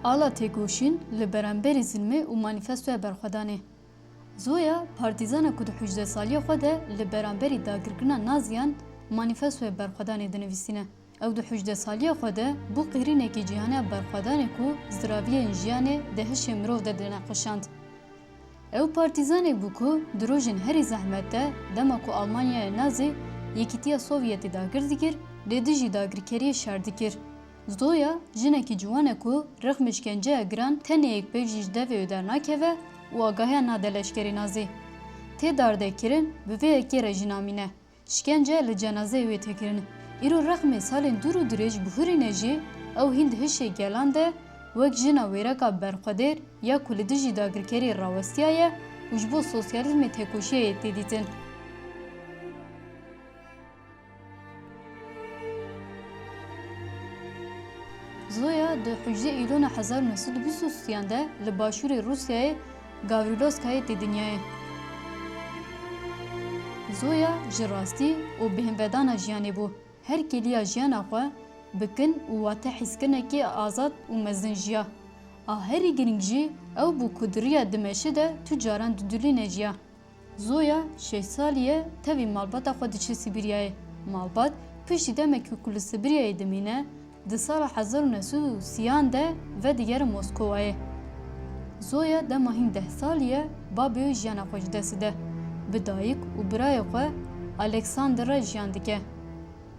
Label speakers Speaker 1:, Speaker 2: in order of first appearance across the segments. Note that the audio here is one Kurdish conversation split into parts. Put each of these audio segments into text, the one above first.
Speaker 1: Ala têkoşîn li beremberî zilmê û manîfestoya berxwedanê. Zoya partîzana ku di hûcdesaliya xwe de li beramberî dagirkirina Naziyan manîfestoya berxwedanê dinivîsîne. Ew di hûcde saliya xwe de bû qîrînekî cîhane berxwedanê ku ziraviyên jiyanê di hişê mirov de dinexweşand. Ew partîzanê bû ku di rojên herî zehmet de dema ku Almanyaya Nazî Yekîtiya Sovyetî dagir dikir lê dijî dagirkeriyê şer dikir. Zoya jinekî ciwan e ku rixm îşkenceya giran tenê yek pêk jî ji devê wê dernakeve û agahiya nade leşkerê Nazî. Tê dardekirin bi vê yekê re jî namîne. Şkence li cenazeyê wê tê kirin. Îro rexmê salên dûr û dirêj bihurîne jî ew hîn di hişê gelan de wek jina wêreka berxwedêr ya ku li dijî dagirkeriyê rawestiyaye û ji bo sosyalîzmê têkoşiyayê tê dîtin. Zoya di hicdê Îlona hezar û neh sed û bîst û siyan de li başûrê Rûsyayê, Gawriloskayê tê dinyayê. Zoya ji rastî û bêhnvedana jiyanê bû. Her kêliya jiyana xwe bi kin û watehîzkirinekî azad û mezin jiya. A herî girîng jî ew bû ku di riya dimeşi de tu caran didulîne jiya. Zoya şeş salî ye tevî malbata xwe diçe Sîbîryayê. Malbat piştî demekî ku li Sîbîryayê dimîne, di sala hezar û neh sed û sî an de vedigere Moskowayê. Zoya dema hîn deh salî ye babê wê jiyana xwe ji dest dide. Bi dayik û birayê xwe Alexander re jiyan dike.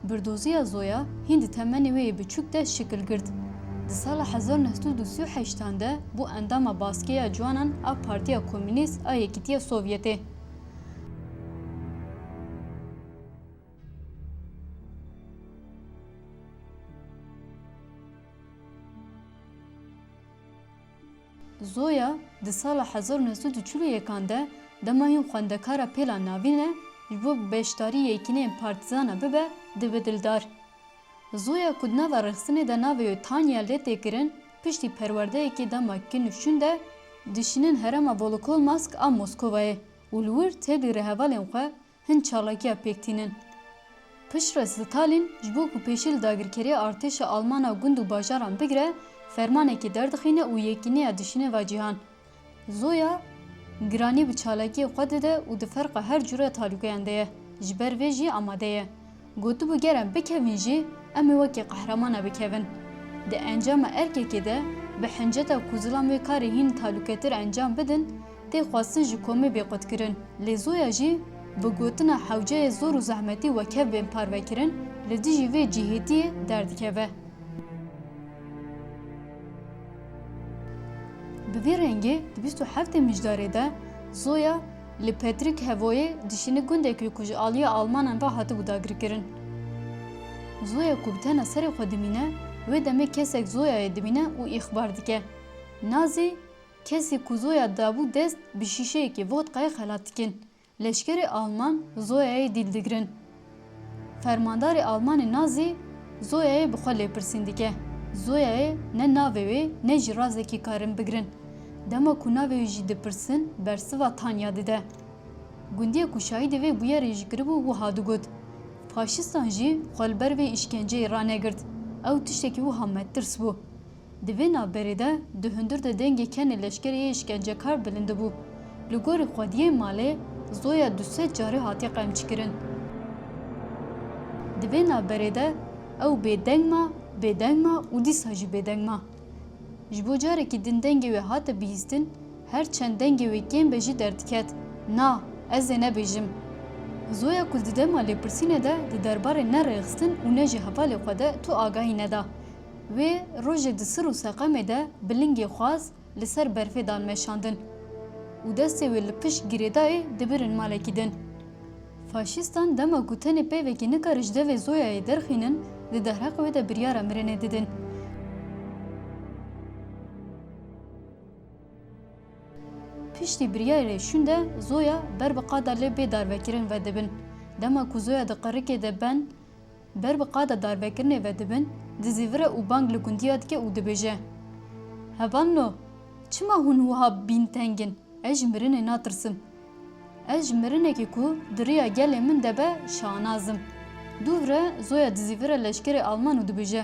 Speaker 1: Birdoziya Zoya hîn di temenê wê yê biçûk de şikil girt. Di sala hezar u neh sed û sî û heşt an de bû endama Baskeya Ciwanan a Partiya Komûnîst a Yekîtiya Sovyetê. Zoya di sala hezar û neh sed û çil û yekan de dema hîn xwendekara pêlan navîn e ji bo bi beşdarî yekîneyên partîzana bibe dibe dildar. Zoya ku di nava rexsinê de navê wê Tanya lê tê kirin piştî perwerdeyekê dema kin û şûn de dişînin herêma Volokolmask a Moskovayê û li wir tevlî rêhevalên xwe Hin çalakiya pêk tînin. Piştre Stalin ji bo ku pêşî li dagirkeriya artêşa Alman a gund û bajaran bigire, fermanekê derdixîne û yekîneya dişîne va cîhan. Zoya giranî bi çalakiyê xwe dide û di ferqa her cure talûkeyan de ye, ji ber vê jî amade ye. Gotibû ger em bikevin jî em ê wekî qehreman bikevin. Di encama erkekê de bi hinceta ku zilam wê karê hîn talûketir encam bidin tê xwestin ji komê bê qutkirin. Lê zoya jî bi gotina hewceyê zor û zehmetî wekev bên parvekirin li dijî vê cihêtiyê derdikeve. Bi vî rengê di bîst û heftê mijdarê de zoya, Li Petrik Hevoyê dişîne gundek li ku ji aliya Almanan re hatibû dagirkirin. Zoya ku bi tena serê xwe dimîne, wê demê kesek Zoyayê dimîne û îxbar dike. Nazî, kesî ku Zoya dabû dest bi şîşeyekî vodkayê xelat dikin. Leşkerê Alman Zoyayê dîl digirin. Fermandarê Almanê Nazî Zoyayê bi xwe lêpirsîn dike. Zoyayê ne navê wê ne jî razekî karin bigirin. Dema ku navê wê jî dipirsin bersiva Tanya dide. Gundiyê ku şahîdê vê bûyerê jî kiribû wiha digot, Faşistan jî xwe li ber vê îşkenceyê ranegirt. Ew tiştekî wiha me tirs bû. Di vê navberê de di hundir de dengê kenê leşkerê yê îşkencekar bilindibû. Li gorî xwediyên malê zoya du sed carî hatiye qemçkirin. Di vê navberê de ew bêdeng ma, bêdeng ma û dîsa jî bêdeng ma. Ji bo carekî din dengê wê hate bihîstin, her çend dengê wê kêm be jî derdiket, Na, ez ê nebêjim. Zoya ku li di dema lêpirsînê de di derbarê ne rêxistin û ne jî hevalê xwe de tu agahî neda. Wê rojê di sir û seqemê de bi lingê xwaz li ser berfê dan meşandin û destê wê li pişt girêdayê dibirin malekî din. Faşîstan dema ku tenê peyvekî nikare ji devê Zoyayê derxînin di dehreqê wê de biryara mirinê didin. Piştî biryarê şûn de Zoya ber bi qada lê bê darvekirin vedibin. Dema ku Zoya di qirikê de ben Ber bi qada darvekirinê ve dibin, dizî vire û bang li gundiya dike û dibêje, Hevalno! Çima hûn wiha bîn teng in? Ez ji mirinê natirsim. Ez ji mirinekî ku di riya gelê min de be şanaz im. Dû hire zoya dizî vire leşkerê alman û dibêje,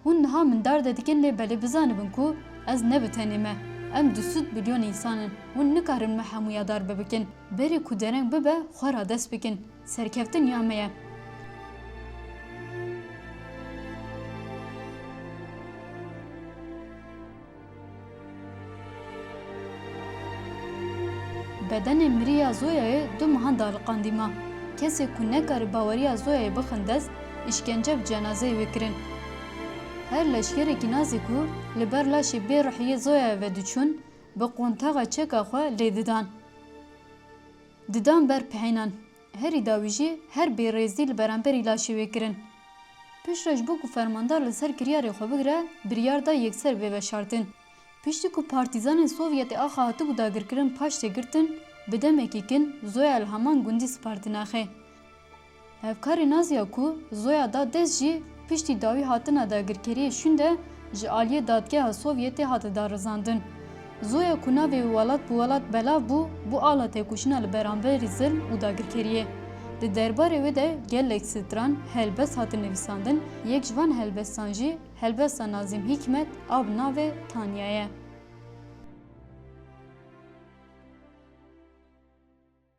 Speaker 1: Hûn niha min dar de dikin lê belê bizanibin ku ez ne bi tenê me. Em du sud bilyon însan in. Hûn nikarin me hemû ya dar bi bikin. Berê ku dereng bibe xwe radest bikin. Serkeftin ya me ye. Bedenê mirî ya Zoyayê du mehan de aliqandî ma. Kesê ku nekare baweriya Zoyayê bixin dest, îşkence bi cenazeyê wê kirin. Her leşkerekî nazî ku li ber laşê bê ruhî yê Zoyayê ve diçûn, bi qontaxa çeka xwe lê didan. Didan ber pihênan. Herî dawî jî her bêrêzî li beramberî laşê wê kirin. Piştre ji bo ku fermandar li ser kiryarê xwe bigire biryar da yekser bê veşartin. Piştî ku partîzanên Sovyetê axa hatibû dagirkirin paş tê girtin, bi demekî kin Zoya li heman gundî spartîne xê. Hevkarê Naziya ku Zoya da dest jî, Piştî dawî hatina dagirkeriyê şûnde ji aliyê Dadgeha Sovyetê hate darizandin. Zoya ku navê wê welat bi welat belav bû, bû ala têkoşîna li beramberî zilm û dagirkeriyê. Di derbarê wê de gelek stran, helbest hatin nivîsandin, yek ji van helbestan jî helbesta Nazîm Hîkmet a bi navê Tanya ye.